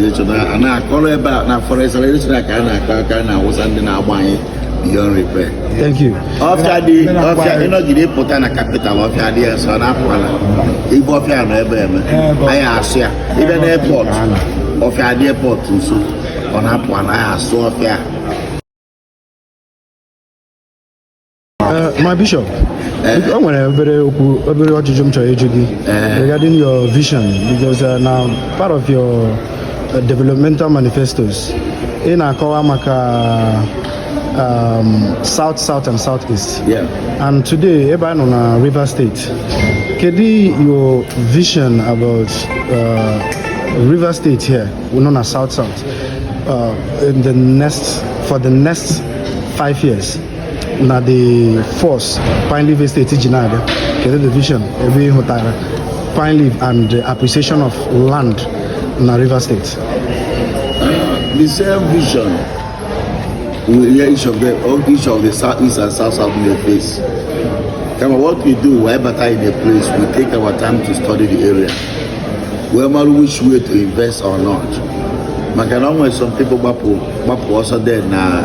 a na-akọrọ ebe a na forestation ka a na-akọ aka a na Awụsa ndị na-agba anyị beyond repair. Thank you. ọfịa dị ọfịa ị nọgide pụta na capital ọfịa dị ya nso na-apụala ibe ọfịa nọ ebe eme anyị asụọ ya ị bịa na airport ọfịa dị airport nso ọ na-apụala anyị asụọ ọfịa Eh, my bishop eh. o nwere obere okwu obere ajụjụ m chọrọ ịjụ gị eh. regarding your vision because uh, na part of your uh, developmental manifestos ị na-akọwa maka um, south south and south east yeah. and today ebe a nọ na river state kedu your vision about uh, river state here nọ na south south uh, in the next for the next five years na the force pine leaf estate ji na-abịa kedu the vision ebe ị hụtara pine leaf and the appreciation of land na river state the same vision we will hear each of them all each of the south east and south south may face kama what we do we bata in a place we take our time to study the area wee mara which way to invest or not maka na ọ nwere some people gbapụ gbapụ ọsọ there na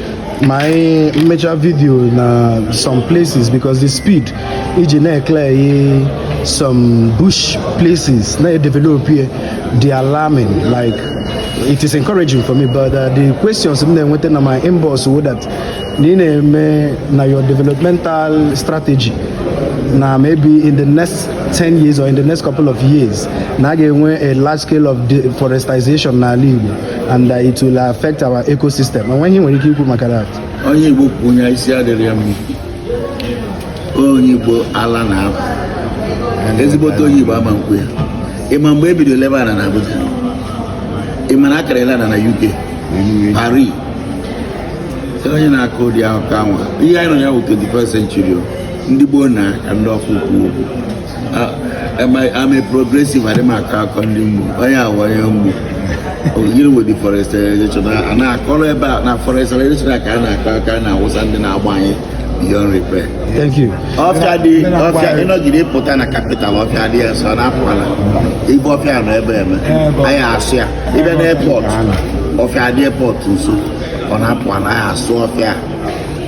ma anyị mechaa video na some places because the speed i ji na-eclear some bush places na-edevelop ihe dị alarming like it is encouraging for me but uh, the questions m na-enweta na my inbox wụ that na ị na-eme na your developmental strategy na maybe in the next 10 years or in the next couple of years na a ga-enwe a large scale of deforestation n'ala Igbo and uh, it will affect our ecosystem o nwe ihe i nwere ike ikwu maka that onye igbo kwụ onye isi adịrọ ya mma onye igbo ala na-apụ ezigbote onye igbo ama ekwu ya ị ma mgbe e bidoro lebe ana na abuja ị ma na a ka na-ele ana na uk paris onye na-akọ ụdị akụkọ anwa ihe anyị nọ ya bụ 21st century ndị gboo na ka ndị ọkụ kwuo okwu I'm a progressive adị m akọ akọ ndị mgboo onye a wụ onye mgboo gịnị wụ deforestation a na-akọrọ ebe a na forestation ka a na-akọ aka a na Awụsa ndị na-agba anyị beyond repair. Thank you. ọfịa dị ọfịa ị nọgide pụta na capital ọfịa dị ya nso na-apụala ibe ọfịa nọ ebe eme anyị asụọ ya ị bịa na airport ọfịa dị airport nso ọ na-apụala anyị asụọ ọfịa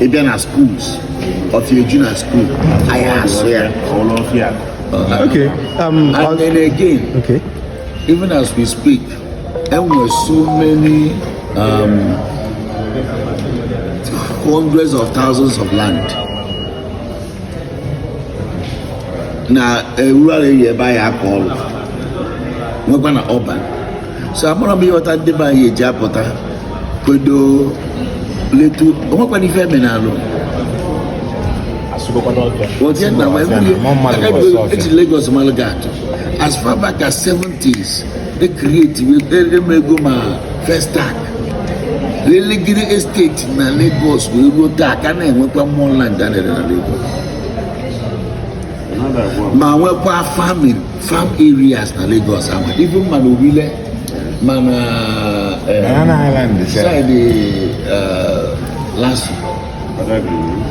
ị bịa na schools ọfịa eju na school anyị asụọ ya okay um, and then again okay. even as we speak e nwere so many um, hundreds of thousands of land na rural area ebe anyị akọ ọrụ nwekwa na urban so amarọ m ịghọta ndị be anyị eji apụta kwedo letu onwekwana ife eme n'alụ eji Lagos malụ gị atụ as far back as 70s they create emego ma Festac lelegide estate na Lagos wee ruo taa ka na-enwekwa more land a na-ere na Lagos ma nwekwa farming farm areas na Lagos ama even ma na Orile ma na eh, Banana Island is there. side eh, LASU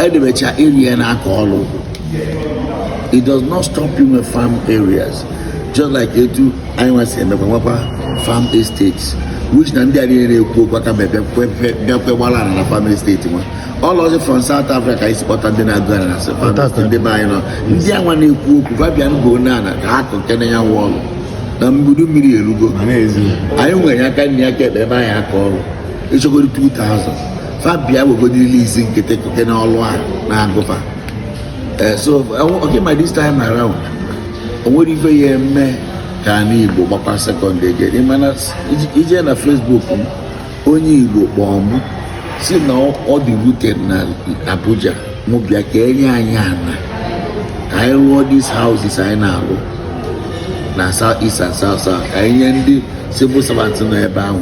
e debecha area na-akọ ọlụ it does not stop you with farm areas just like etu anyị nwa si emekwa nwekwa farm estates which na ndị a niile na-ekwu okwu aka mebe bịakwe gbara ala na farm estate nwa all of from South Africa anyị si kpọta ndị na-agụ ala na sefamist ndị be anyị nọ ndị anwa na-ekwu okwu fa bịa ngo n'ala ka ha kọkene ya wụ ọrụ na mbudu mmiri erugo anyị nwere aka nri aka ekpe ebe anyị akọ ọrụ ịchọgoro 2000 fa bịa wegodile isi nkịtị kọkene ọrụ a na-agụ fa eh, so okay by this time around o nwere ife ya eme ka anyị Igbo gbakwa second gear ị ma na i je na Facebook m onye Igbo kpọọ m sị na ọ dị rooted na Abuja mụ bịa ka e nye anyị ana ka anyị rụọ these houses anyị na-arụ na south east and south south ka anyị nye ndị civil servants nọ ebe ahụ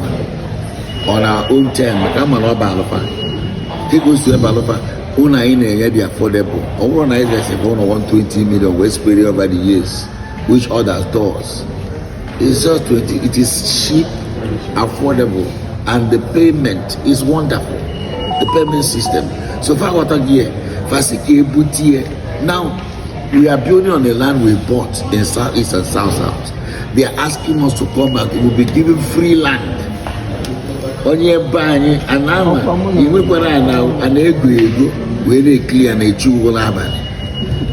on our own term ka a mara ọ bụ alụ fa dịka o si ebe alụ fa ụlọ anyị na-enye dị affordable ọ bụrụ na anyị resịrị ụlọ 120 million wee spread over the years which others does It's just 20. It is cheap, affordable, and the payment is wonderful. The payment system. So far, what I hear, Fasike Butie. Now, we are building on the land we bought in Southeast and South South. They are asking us to come back. We'll be given free land. onye be anyị anama inwekwara ana ego ego wee na-ekili ya na-echi ụgwọ n'abalị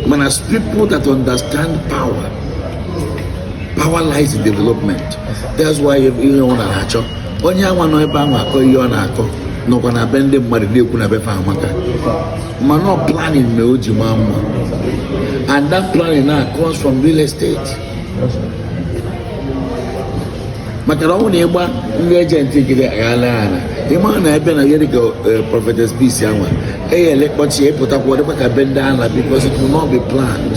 mana people that understand power power lies in development that's why ihe ọ na-achọ onye anwa nọ ebe ahụ akọ ihe ọ na-akọ nọkwa na be ndị mmadụ na-ekwu na be fa amaka mana ọ planning na o ji maa mma and that planning now comes from real estate maka na ọ na ịgba ndị agent gịrị aghala ala ị ma na ebe na yeri ka eh, Prophetess Peace anwa eyele kpọchi ị pụtakwa ọ dịkwa ka be ndị ala because it will not be planned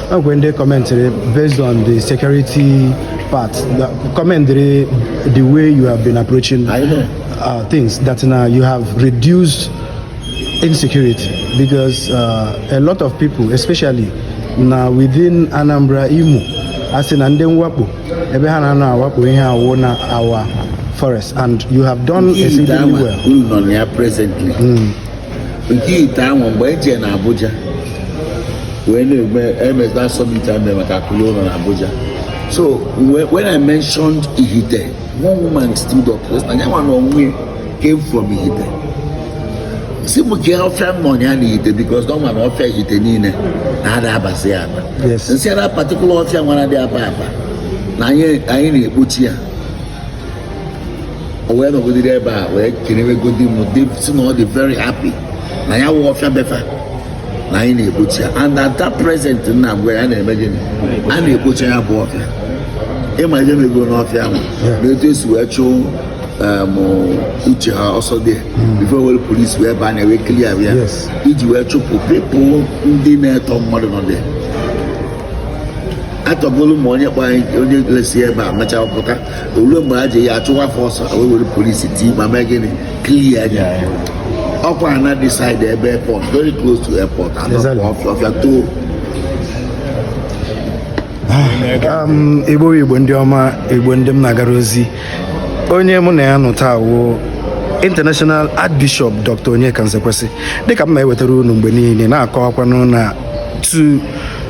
E nwe ndị commented based on the security part commend the way you have been approaching uh, things that now you have reduced insecurity because uh, a lot of people especially now within Anambra Imo a sị na ndị mwakpo ebe ha na-anọ awakpo ihe a wụ na our forest and you have done exceedingly well. nke Ihite anwụ mgbe eji na Abuja wee na-eme emezda a summit e mere maka akụ lue ụlọ na Abuja so when I mentioned Ihite one woman stood up na ya nwa na onwe came from Ihite sị m kee ọfịa m nọ ya na Ihite because o nwere ọfịa Ihite niile na-ada abasị ya aba m sị that particular ọfịa wa na-adị aba aba na anyị na-ekpocha ya o wee nọgidere ebe a wee kelewegodi m sị na ọ dị very happy na ya wụ ọfịa befa na anyị na-ekpocha ya and at that present now mgbe ya na-eme gịnị a na-ekpocha ya bụ ọfịa ị ma ihe mego n'ọfịa ahụ na etu e si wee chụọ um, Uche ha ọsọ there hmm. before were police wee baa na wee clear ya e ji wee chụpụ people ndị na-etọ mmadụ nọ there atọgolu ma onye kpọ onye lesi ebe a mechaa pụta owuwe mgbe a ji ya achụwa fa ọsọ wee were police team a mee gịnị clear ya ọkwa na that side ebe airport very close to airport ọfịa too ah, um, igbo igbo ndị ọma igbo ndị m na-agara ozi onye mụ na ya nọ taa wụ international archbishop dr Onyeka Nzekwesị dịka m na-ewetara unu mgbe niile na-akọwakwanụ na tu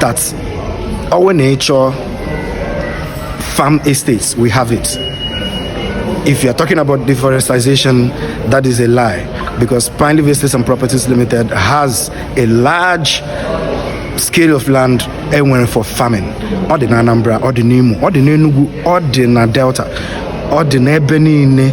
that our nature farm estates, we have it. If you are talking about deforestation, that is a lie because Pine Leaf Estates and Properties Limited has a large scale of land e nwere for farming ọ dị na Anambra ọ dị n'Imo ọ dị n'Enugu ọ dị na Delta ọ dị n'ebe niile